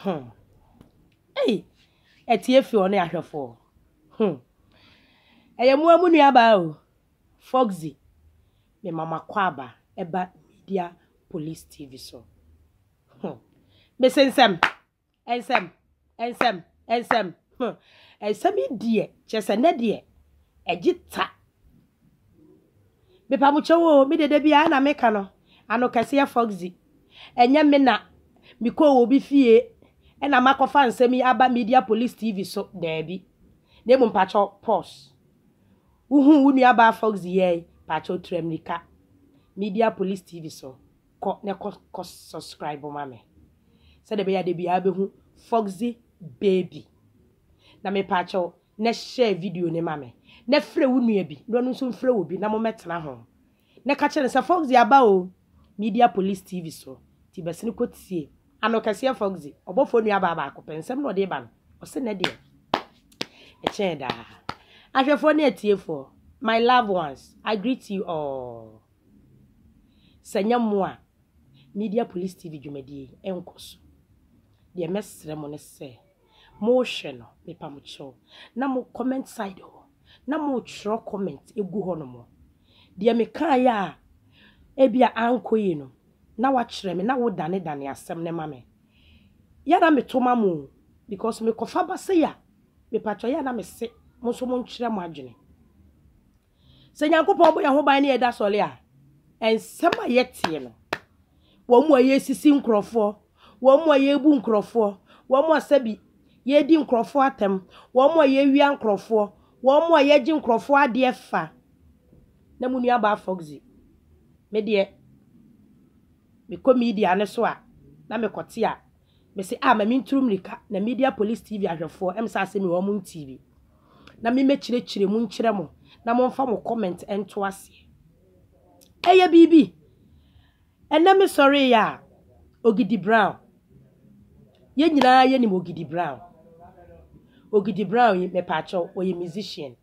Hmm. Ei, ɛteɛ fi ɔne ahwɛfoɔ. Hmm. Ɛyɛ mo amu nuabaa o. Foxy, me mama kɔ aba ɛba media police TV so. Hmm. Mese nsɛm, nsɛm, Nsɛm, nsɛm, huh. Nsɛm yi deɛ, kyerɛ sɛ nnɛ deɛ, ɛgye ta. Mepa mo kyɛw oo, me dede bi a na meka no, ano kɛseɛ Foxy. Ɛnyɛ me na mekɔɔ wɔ obi fie ɛna makɔfa nsɛm yi aba Media Police TV so, daabi. Na mmom pakyɛ pause. Wohuu wo nuabaa Foxy yɛe, pakyɛ tura mmirika. Media Police TV so. Kɔ na kɔ kɔ subscribe ma me sɛdeɛ ɛbɛyɛ a da biara wobɛhu Foxy Baby. Na mepaakyɛw na share video no ma me na frɛ wo nua bi na ɔno nso mfrɛ wo bi na mommɛtena ho na ka kyerɛ no sɛ Foxy aba o Media Police TV so nti bɛsene kɔtie Ano kɛseɛ Foxy ɔbɔfoɔ nuabaa baako pɛ nsɛm na ɔde ba no ɔse nɛ deɛ ɛkyɛn daa Ahwɛfoɔ ne atiefoɔ my loved ones I greet you all. Sɛ nyɛ mo a, Media Police TV dwumadie yi ɛnkɔ so. Deɛ mɛsrɛ mo ne sɛ, mohwɛ no, mepa mo kyɛw, na mo comment side hɔ, na motwerɛ comment gu hɔ nom. Deɛ mekaeɛ a ebia ankɔ yie no, na woakyerɛ me, na wodanedane asɛm no ma me. Yɛ a na meto ma mo o, because mekɔfa ba sei a, mepa kyɛw, yɛ a na mese mo nso monkyerɛ mo adwene. Sɛ Nyankopɔn bɔ yɛn ho ban na yɛda sɔle a, nsɛm a yɛteɛ no, wɔn a yɛresisi nkurɔfoɔ, wɔn a yɛrebu nkurɔfoɔ, wɔn a sɛbi yɛredi nkurɔfoɔ atɛm, wɔn a yɛrewia nkurɔfoɔ, wɔn a yɛgye nkurɔfoɔ adeɛ fa. Na mo nuabaa Foxy, me deɛ, mekɔ media no so a, na mekɔte a, Mese a ma mentu mmirika na Media Police TV ahwɛfoɔ msa ase me wɔn ntii bi na me mɛkyerɛkyerɛ mu nkyerɛ mo na momfa mo comment nto aseɛ. Ɛyɛ biribi. Ɛnɛ me sɔreeɛ a, Ogidi Brown. Yɛn nyinaa yɛnim Ogidi Brown. Ogidi Brown yi, mepaakyɛw, ɔyɛ musician.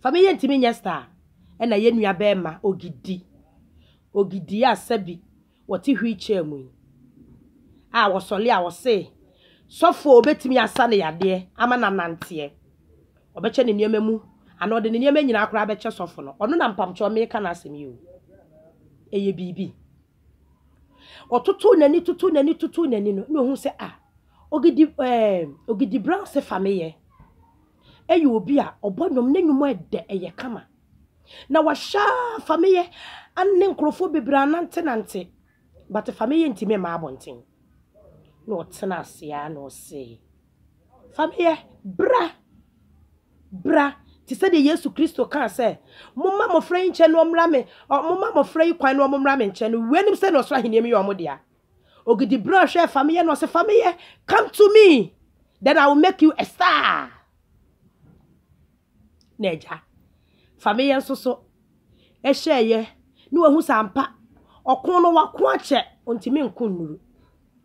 Fa me yɛntimi nyɛ star ɛna yɛ nua bɛɛma ogidi ogidi a sɛbi wɔte wheel chair mu yi a wɔsɔle a wɔse sɔfoɔ obetimi asa ne yadeɛ ama no ananteɛ ɔbɛkyɛ ne nneɛma mu anaa ɔde ne nneɛma nyinaa koraa bɛkyɛ sɔfo no ɔno na mpamkyɛw meka n'asɛm yi o ɛyɛ biribi. Ɔtotoo n'ani totoo n'ani totoo n'ani no, na ohun sɛ a Ogidi ɛɛ Ogidi Brown se fa me yɛ. Ɛyɛ obi a ɔbɔ nnwom, ne nnwom a ɛdɛ, ɛyɛ kama. Na wahyɛ a fa me yɛ ne nkurɔfoɔ bebree anantenante. But fa me yɛ ntumi mmaa abɔnten. Na ɔtenaa ase ara na ɔsee. Fa me yɛ. Bra. Bra. Te sɛ deɛ Yesu Kristo kaa sɛ, Momma mmɔfra yi nkyɛn na wɔmmra me, ɔ, momma mmɔfra yi kwan na wɔmmra me nkyɛn no, wei nim sɛ na ɔsoro ahennie mu yɛ wɔn dea. Ogidi bra hwɛɛ fa me yɛ na ɔse, Fa me yɛ, come to me, then I will make you a star. Na agya, fa me yɛ nso so, ɛhyɛɛ yɛ, na wahu sɛ ampa, ɔko no wako akyɛ, ɔntumi nko nnuru,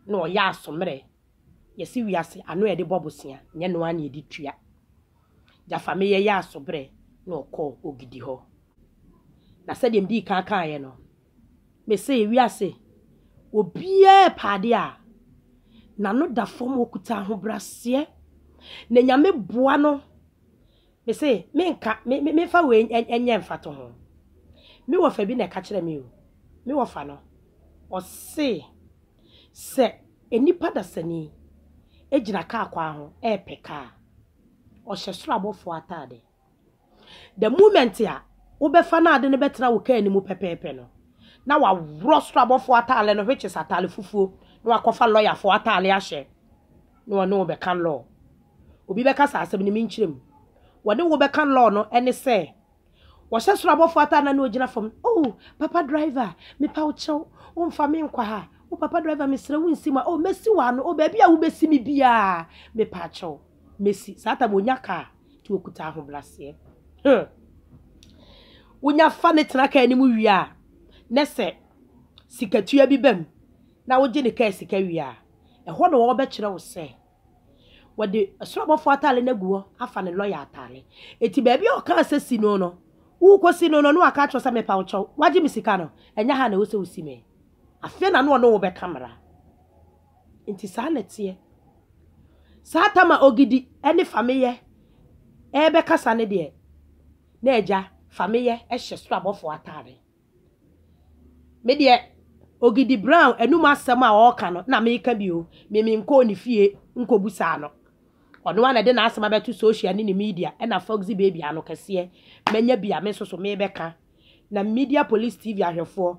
na ɔyɛ aso mmerɛ. Yɛse wiase ano a yɛde bɔ bosea nyɛ ɛno ara na yɛde tua. Gyafameyɛ yɛ asobrɛ na ɔkɔɔ Ogidi hɔ. Na sɛdeɛ medii kan kaeɛ no, mese wiase obiara repɛ adeɛ a n'ano da fam, ɔkuta ahobraseɛ na Nyame boa no. Mese menka, me, me, memfa wei nyɛ mfatoho. Me wɔfa bi na ɛka kyerɛɛ me o, me wɔfa no, ɔse, Sɛ nnipa dasani gyina kaa kwan ho repɛ kaa a, ɔhyɛ soro abɔfoɔ ataade. The moment a wobɛfa no ade no bɛtena wo kaa no mu pɛpɛɛpɛ no, na waworɔ soro abɔfoɔ ataade no which is ataade fufuo na wakɔfa lɔyafoɔ ataade ahyɛ na wɔne wo bɛka law. Obi bɛka sɛ asɛm no menkyerɛ mu. Wɔne wo bɛka law no ne sɛ Wɔhyɛ soro abɔfo ataa na ne ogyina fam. Oh, papa driver, mepa wo kyɛw, womfa me nkɔ ha. Oh, papa driver, mesrɛ wo nsi mu a. Oh, mɛsi wo ano. Oh, baabi a wobɛsi me biara, mepa kyɛw, mɛsi. Saa tam onya kaa, nti okuta ahobraseɛ. Hmm. Wonya fa ne tena kaa anim wie a, ne sɛ sikatua bi bam na wogye ne kaa sika wie a, ɛhɔ na wɔbɛkyerɛ wo sɛ Wɔde soro abɔfoɔ ataade no agu hɔ afa ne lɔya ataade. Eti baabi a ɔkaa sɛ si no no, worekɔsi no no na waka akyerɛ sɛ mepa wo kyɛw, woagye me sika no, ɛnyɛ ha na ɛwɔ sɛ wosi me. Afei na ne ɔne wo bɛka mmara. Nti saa na ɛteɛ. Saa tam a Ogidi ne Fameyɛ ɛrebɛkasa no deɛ, na agya Fameyɛ hyɛ soro abɔfoɔ ataade. Me deɛ Ogidi Brown anum asɛm a ɔreka no na meka bi o, me menkɔɔ ne fie nkɔbusaa no. Ɔno ara na ɛde n'asɛm abɛto social ne ne media ɛna Foxy Baby ano kɛseɛ. Manya bi a me nso so mebɛka. Na Media Police TV ahwɛfoɔ,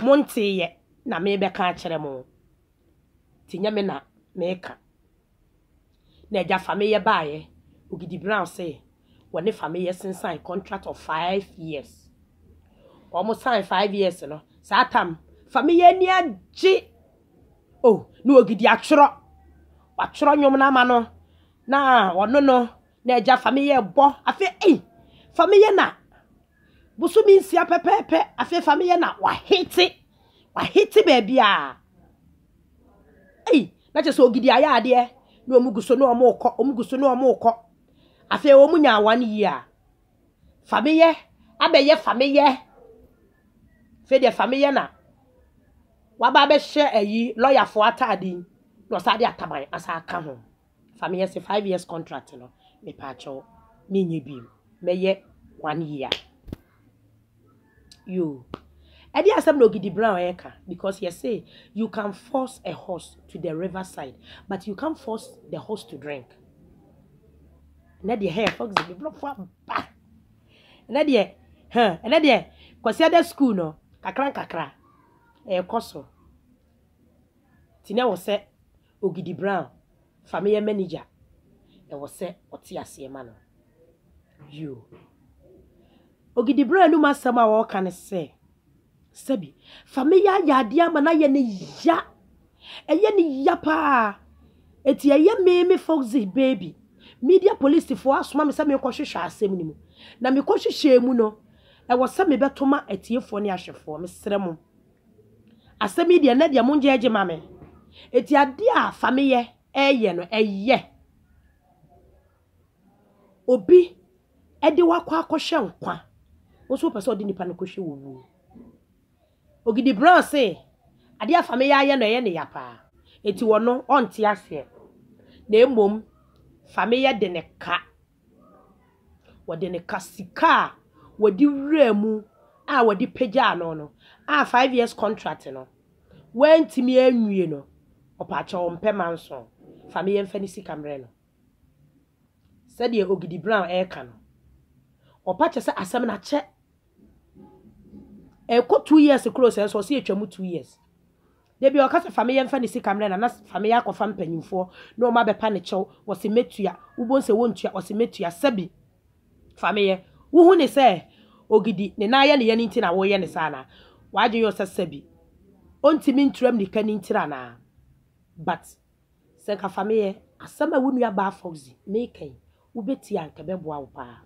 monteeɛ na mebɛka akyerɛ mo. Nti nyɛ me na meka. na agya Fameyɛ baeɛ. Ogidi Brown se wɔne Fameyɛ sensan contract of five years. Wɔn sign five years no, saa tam Fameyɛ ani agye oh, na Ogidi atwerɛ. Watwerɛ nnwom no ama no na ɔno no na agya Fameyɛ rebɔ. Afei ei, Fameyɛ na bosome nsia pɛpɛɛpɛ, afei Fameyɛ na wahete, wahete baabiara. Ei! Na kyerɛ sɛ Ogidi ayɛ adeɛ. Na wɔn gu so na wɔn rekɔ, wɔn gu so na wɔn rekɔ. Afei wɔn nyaa one year. Fameyɛ abɛyɛ fameyɛ. Afei deɛ fameyɛ na waba abɛhyɛ ayi lɔyafoɔ ataade yi, na ɔsan de ataban asan aka ho. Fa me yɛ se five years contract no mepaakyɛw me nyɛ biom mɛyɛ one year yoo ɛde asɛm na ogidi brown ɛka because yɛ se you can force a horse to the river side but you can't force the horse to drink ɛnɛ deɛ hɛn fox bi blɔfo aba ɛnɛ deɛ hɛn ɛnɛ deɛ kwasi ada school no kakra nkakra ɛkɔ so ti na wɔ sɛ Ogidi Brown fa me yɛ manager ɛwɔ sɛ ɔte aseɛ ma no yoo Ogidi Brown anum asɛm a ɔreka ne sɛ sɛbi fa me yɛ ayɛ adeɛ ama no ayɛ ne ya ɛyɛ ne ya paa eti ɛyɛ me me Foxy baby media police foɔ asoma me sɛ mekɔ hwehwɛ asɛm no mu na mekɔ hwehwɛ mu no ɛwɔ sɛ mebɛto ma atiefoɔ ne ahwɛfoɔ mesrɛ mo Asɛm yi deɛ ɛnɛ deɛ mongye agye ma me. Eti adeɛ a Fameyɛ ɛɛyɛ no ɛyɛ obi ɛde wo akɔ akɔhwɛ nkwa. Wo nso wopɛ sɛ ɔde nipa no kɔhwɛ owuo. Ogidi Brown se adeɛ a Fameyɛ ayɛ no ɛyɛ ne ya paa. Eti ɔno ɔnte aseɛ. Na mmom Fameyɛ de ne ka Wɔde no ka sika a wɔde wuraa mu a wɔde pagyaa no no a five years contract no wantumi anwie no, ɔpaakyɛw ɔmpɛ Manson, fa me yɛmfa ne sika mmerɛ no. Sɛdeɛ Ogidi Brown ɛreka no, ɔpa kyɛ sɛ asɛm no akyɛ. Ɛrekɔ two years koro sɛ nso ɔse atwa mu two years. Da bi ɔka sɛ fa me yɛ mfa ne sika mrɛ no ana fa me yɛ akɔfa mpanyimfoɔ na wɔn abɛpa ne kyɛw ɔse mɛtua wobɔhu sɛ wɔntua ɔse mɛtua sɛbi fa me yɛ wohu ne sɛ ogidi ne nan yɛ ne yɛn nti na woyɛ ne saa anaa w'adwen yɔ sɛ sɛbi ɔntimi ntura mmirika no ntira anaa but sɛ nka fa me yɛ asɛm a wo nua baa Foxy meka yi wobɛtie a nka ɛbɛboa wo paa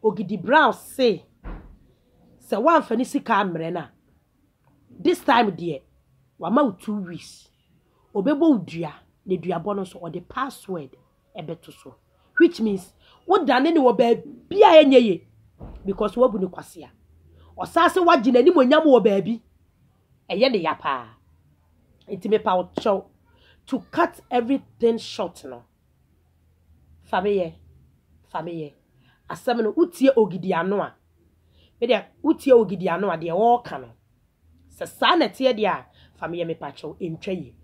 Ogidi Brown se sɛ woamfa ne sika ammrɛ no a. This time deɛ wama wo two weeks ɔbɛbɔ wo dua na duabɔ no nso ɔde password ɛbɛto so which means wo dane ne wɔ baabi a ɛnyɛ ye because wabu ne kwasea ɔsan sɛ wagye n'anim onyam wɔ baabi ɛyɛ ne ya paa nti mepa wo kyɛw to cut everything short no fa meyɛ fa meyɛ asɛm no wotie ogidi ano a Me deɛ wotie Ogidi ano a deɛ ɔɔka no sɛ saa na ɛteɛ deɛ a fa me yɛ me pakyɛw ɛntwa yie.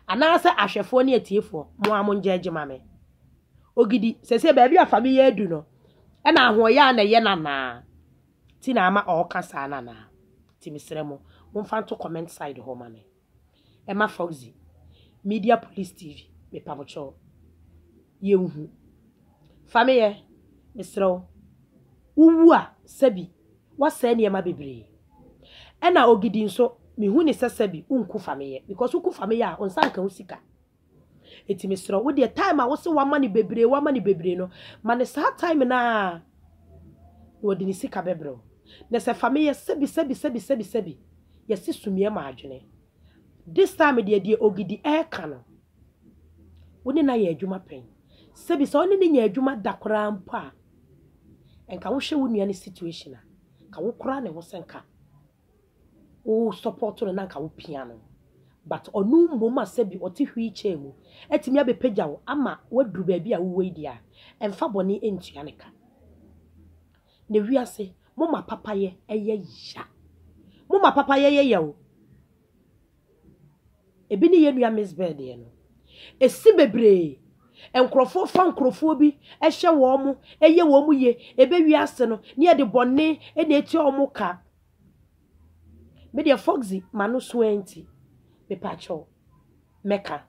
Anaasɛ ahwɛfoɔ ne atiefoɔ mo ara mo ngyɛɛgye ma me. Ogidi sɛsɛ baabi a fa me yɛ adu no ɛna ahoɔyɛ a na ɛyɛ no anaa ti na ama ɔɔka saa no anaa? Nti mesrɛ mo momfa nto comment side hɔ ma me. ɛma Foxy media police TV mepabokyɛw yɛ nhu fa me yɛ mesrɛ wo wo wu a sɛbi wasɛɛ nneɛma bebree ɛna Ogidi nso mehu ne sɛ sɛbi wo nku fa me yɛ because wo ku fa me yɛ a wo nsa nka wo sika. Enti mesrɛ wo deɛ time a wose wama no bebree wama no bebree no ma no saa time no ara na ɔde ne sika bɛbrɛ wo. Na sɛ fa me yɛ sɛbi sɛbi sɛbi sɛbi sɛbi yɛse sumiiɛ ma adwene. This time deɛ deɛ Ogidi reka no wo ne no ayɛ adwuma pɛn. Sɛbi sɛ wo ne no nya adwuma da koraa mpo a nka wohwɛ wo nua no situation a nka wokora ne ho sɛ nka. wo support no na anka wo pia no but ɔno mmom a sɛbi ɔte wheel chair mu atumi abɛpagya wo ama woaduru baabi a wowɔ yi deɛ a ɛmfa bɔne ntua ne ka. Na wiase moma papayɛ yɛ ya. Moma papayɛ yɛ ya o. Ebi ne yɛn nua Miss Byrd deɛ no, ɛsi bebree. Nkurɔfoɔ fa nkurɔfoɔ bi hyɛ wɔn mo, ɛyɛ wɔn mo yie, ɛbɛwie ase no, ne yɛde bɔne na ɛtua wɔn mo ka. Me deɛ Foxy ma no so ɛnti, mepa kyɛw, mɛka.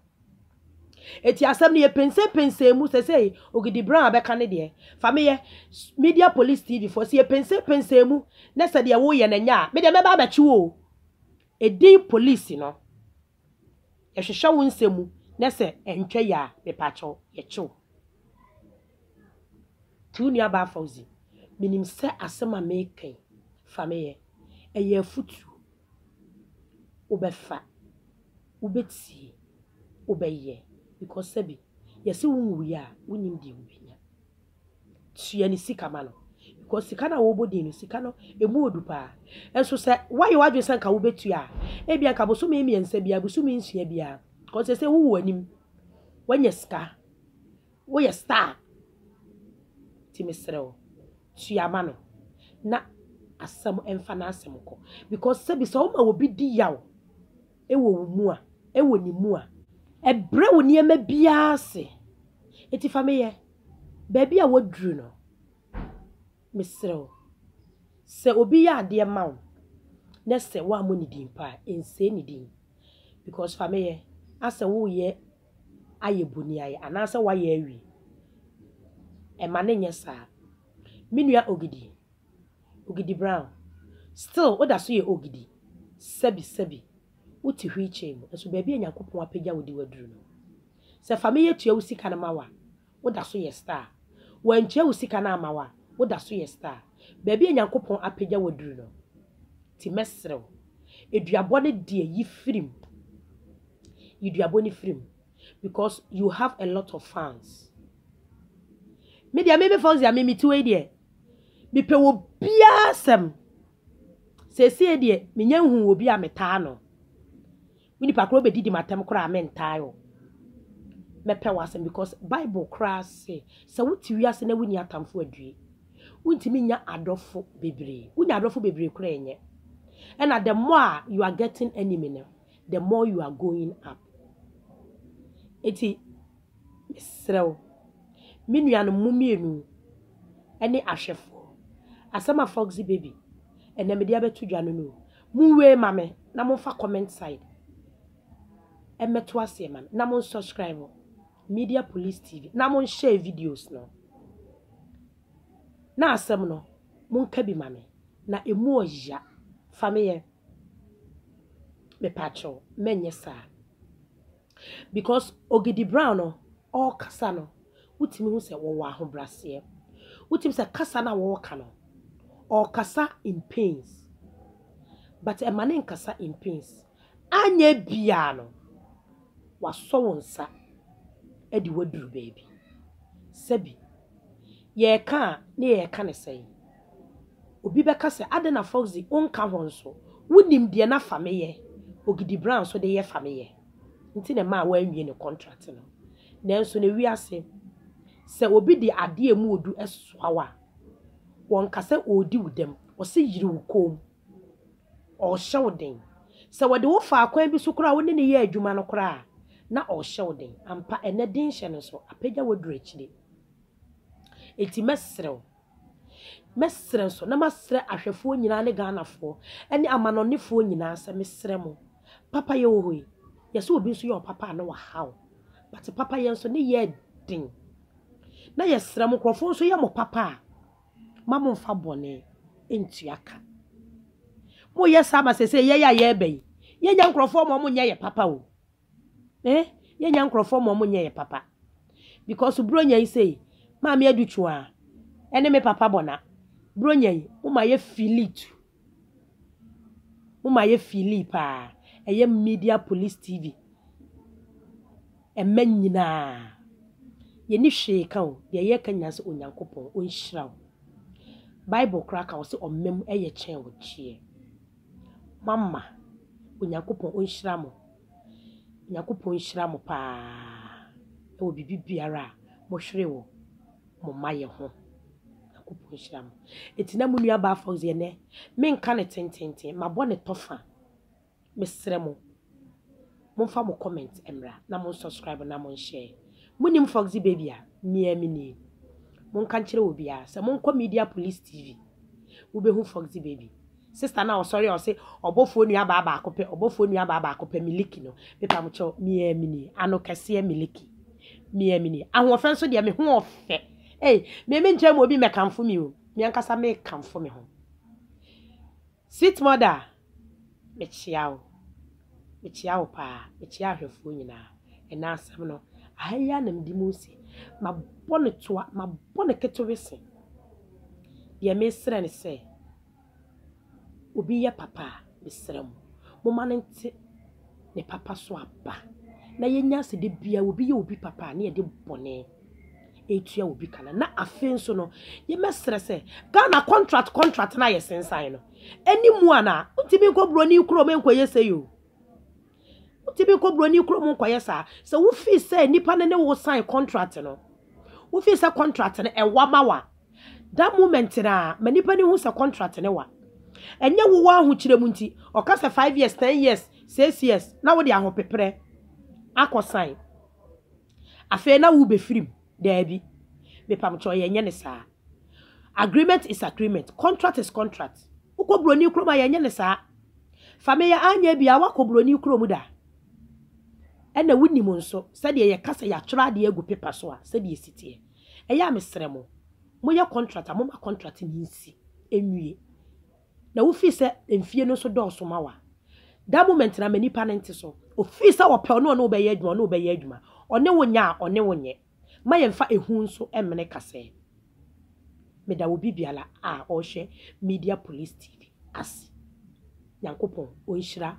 Ɛti asɛm no yɛ pensɛn pensɛn mu, sɛ sɛ Ogidi Brown abɛka ne deɛ, fa me yɛ Media Police TV foɔ, sɛ yɛ pensɛn pensɛn mu, na sɛ deɛ wo yɛ na ɛnyɛ a, me deɛ mɛba abɛkye wo o. Edin police no yɛhwehwɛ wo nsɛm mu na sɛ ɛntwa yi a mepakyɛw yɛkye wo. Nti wo nua baa Fauzi menim sɛ asɛm a meka yi fa me yɛ ɛyɛ afutuo wo bɛ fa wo bɛ tie wo bɛ yɛ because sɛbi yɛse wo nwuiɛ a wo nim deɛ wo bɛ nya. tua ne sika ma no because sika no a wɔbɔ din no sika no emu odu paa nso sɛ woayɛ w'adwene sɛ nka wobɛtua a ebia nka bosome mmiɛnsa biara bosome nsia biara because sɛ sɛ wowu anim woanya sika woyɛ star ti mesrɛ wo tua ma no na asɛm mfa n'asɛm kɔ because sɛbi sɛ woma obi di yaw ɛwɔ wo mu a ɛwɔ ne mu a ɛbrɛ wo nneɛma biara ase eti fa meyɛ baabi a wɔaduru no, mesrɛ wo, sɛ obi yɛ adeɛ ma wo na sɛ woammɔ ne din mpo a, nsɛe ne din. Because fa me yɛ, asɛ woreyɛ ayɛ boniayɛ anaasɛ woayɛ awie. Ɛmma no nyɛ saa. Me nua Ogidi, Ogidi Brown, still woda so yɛ Ogidi, sɛbi sɛbi, wote wheelchair mu, nso baabi a Nyankopɔn apagya wo de woaduru no, Sɛ fa me yɛ tua wo sika no ma wo a, wo da so yɛ star. Wantua wo sika no amma wo a, wo da so yɛ star. Baabi a Nyankopɔn apagya wo aduru no, nti mɛsrɛ wo, aduabɔ no deɛ yi firi mu. Yi duabɔ no firi mu because you have a lot of fans. Me deɛ me me Fauzia me me ti wei deɛ, me pɛ wɔ biara sɛm. Sɛsie deɛ, me nya nhu wɔ bi a me taa no. Me nipa koraa wobedidi m'atɛm koraa a mentaa wo. Mɛpɛ w'asɛm because bible koraa se sɛ wote wiase na wonni atamfo adue. Wontumi nnya adɔfo bebree. Wonya adɔfo bebree koraa ɛnyɛ. Ɛna the more a you are getting enemy no the more you are going up. Enti mesrɛ wo me nuanom mo mmienu ne ahwɛfoɔ asɛm a Foxy Baby ɛnɛ mede abɛto dwa no no o. Mo wei ma me na mo nfa comment side ɛmɛto aseɛ ma me na mo nsubscribe media police tv na mo nhyɛ videos no na asɛm no mo nka bi ma me na emu ɔya fa me yɛ mepakyɛw mɛnyɛ saa Because Ogidi Brown no ɔɔkasa no wotumi hu sɛ wɔwɔ ahobraseɛ. Wotumi hu sɛ kasa no a wɔɔka no ɔɔkasa in pains but ɛma no nkasa in pains. Anyɛ biaa no wasɔ wo nsa de wo aduru baabi. Sɛbi yɛɛka a ne yɛɛka no sɛn? Obi bɛka sɛ, Adɛn na Fox de wonka ho nso? Wunim deɛ na Fameyɛ, Ogidi Brown nso de yɛ Fameyɛ nti na ɛmaa wanwie ne kɔntrat no. Nanso nnɛ wiase, sɛ obi de adeɛ a emu ɔdu soa wo a, wɔnka sɛ ɔredi wo dɛm, wɔse yere wo kɔn mu, ɔrehyɛ wo den. Sɛ wɔde wo fa akwan bi so koraa a, wo ne no yɛ adwuma no koraa a, na ɔrehyɛ wo den. Ampa, ɛnnɛ denhyɛ no nso apagya wo aduru akyire. Enti mɛsrɛ wo. Mɛsrɛ nso na masrɛ ahwɛfoɔ nyinaa ne Ghanafoɔ ne amanɔnefoɔ nyinaa sɛ mesrɛ mo, papayɛ wɔ hɔ yi, yɛsɛ obi nso yɛ ɔpapa a na wahaw, but papayɛ nso ne yɛ den. Na yɛsrɛ mo nkurɔfoɔ nso yɛ mo papa a, ma mo mfa bɔne ntua ka. Moyɛ saa ma sɛsɛ yɛn a yɛreba yi, yɛnya nkurɔfoɔ ma wɔnyɛ yɛ papa o. Eh yɛnya nkorɔfoɔ ma ɔmo nyɛ yɛ papa because bronya yi sei maame adu twaa ɛne me papa bɔ na bronya yi mo ma yɛ fili tu mo ma yɛ fili paa ɛyɛ media police tv ɛmɛ nyinaa yɛni hwee ka o deɛ yɛ ka nyinaa sɛ onyankopɔn ɔnhyira wo bible koraa ka wo sɛ ɔmam ɛyɛ kyɛn wo kyeɛ. Moama. Onyankopɔn ɔnhyira mo. Onyankopɔn nhyira mo paa wɔ biribi biara a mohwere wɔ mo mma yɛ ho. Onyankopɔn nhyira mo. Eti na mo nua baa Fox yɛ nɛ. Menka ne tententen. Mabɔ ne tɔfa. Mesrɛ mo. Monfa mo comment mmra na mon subscribe na mon share. Monim Foxy Baby a, me ara menie. Monka nkyerɛ obiara sɛ monkɔ Media Police TV. Wobɛhu Foxy Baby. Sister no a ɔsɔre a ɔse ɔbɔfoɔ nuabaa baako pɛ, ɔbɔfoɔ nuabaa baako pɛ, Miliki no, mepamokyɛw, me ara menie. Ano kɛseɛ Miliki. Me ara menie. Ahoɔfɛ nso deɛ, me ho ɔfɛ. Ei, me menkyerɛ mo obi mmɛkamfo me o, me ankasa mekamfo me ho. Sweet mother, mekyea wo. Mekyea wo paa, mekyea ahwɛfoɔ nyinaa. Ɛnnɛ asɛm no, aha yi ara na mede mu resi. Mabɔ no toa, mabɔ no ketewe se. Deɛ meresrɛ ne sɛ, obi yɛ papa a, mesrɛ mo, momma no nte. ne papa so aba, na yɛnya sɛ da biara obi yɛ obi papa a, na yɛde bɔne retua obi ka no. Na afei nso no, yɛmɛsrɛ sɛ Ghana contract contract no a yɛsensan no, ɛne mu ana? Wontumi nkɔ buroni kurom nkɔyɛ sɛ yo. Wontumi nkɔ buroni kurom nkɔyɛ saa. Sɛ wofii sɛ nipa no ne wo sign contract no, wofii sɛ contract no ɛwa ma wa. That moment no ara, ma nipa no hu sɛ contract no wa. Ɛnyɛ wo w'ahokyerɛ mu nti, ɔka sɛ five years, ten years, six years, na wode ahopeprɛ akɔ sign. Afei na wobɛfiri mu. Daabi. Mepamkyɛw yɛnyɛ no saa. Agreement is agreement. Contract is contract. Wokɔ buroni kurom a yɛnyɛ no saa. Fa me yɛ anyɛ bia woakɔ buroni kurom da. Ɛna wonim nso sɛdeɛ yɛka sɛ yɛatwerɛ adeɛ agu paper so a sɛdeɛ ɛsi teɛ. Ɛyɛ a mesrɛ mo, moyɛ contract a momma contract no nsi nwie. Na wofii sɛ mfie no nso dɔɔso ma wo a, that moment no ama nipa no nte so. Ofii sɛ ɔpɛ ɔne ɔne wo bɛyɛ adwuma ɔne wo bɛyɛ adwuma, ɔne wo nyɛ a ɔne wo nyɛ. Mma yɛmfa ehu nso mmene kasɛɛ. Meda obi biara a ɔrehwɛ Media Police TV ase. Nyankopɔn ɔnhyira.